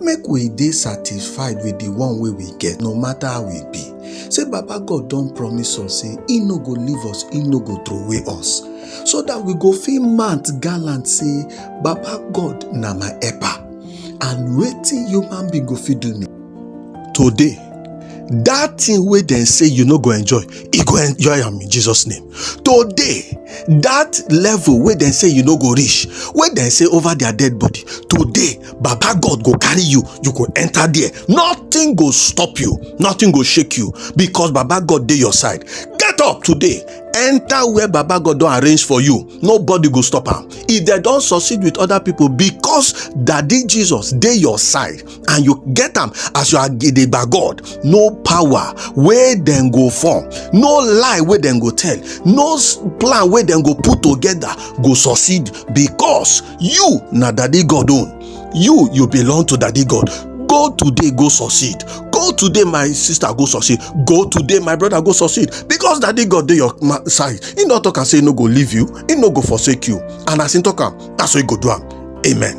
make we dey satisfied with the one wey we get no matter how e be say baba god don promise us say he no go leave us he no go throway us so that we go fit mount gallant say baba god na my helper and wetin human being go fit do me today that thing wey dem say you no go enjoy you go enjoy am in jesus name today that level wey dem say you no go reach wey dem say over their dead body today baba god go carry you you go enter there nothing go stop you nothing go shake you because baba god dey your side get up today enter where baba god don arrange for you nobody go stop am if dem don succeed with other people because daddy jesus dey your side and you get am as you are gidigba god no power wey dem go form no lie wey dem go tell no s- plan wey dem go put together go succeed because you na daddy god own you you belong to daddy god go today go succeed go today my sister go succeed go today my brother go succeed because daddy god dey your ma- side he no talk am say he no go leave you he no go forsake you and as he talk am na so he go do am amen.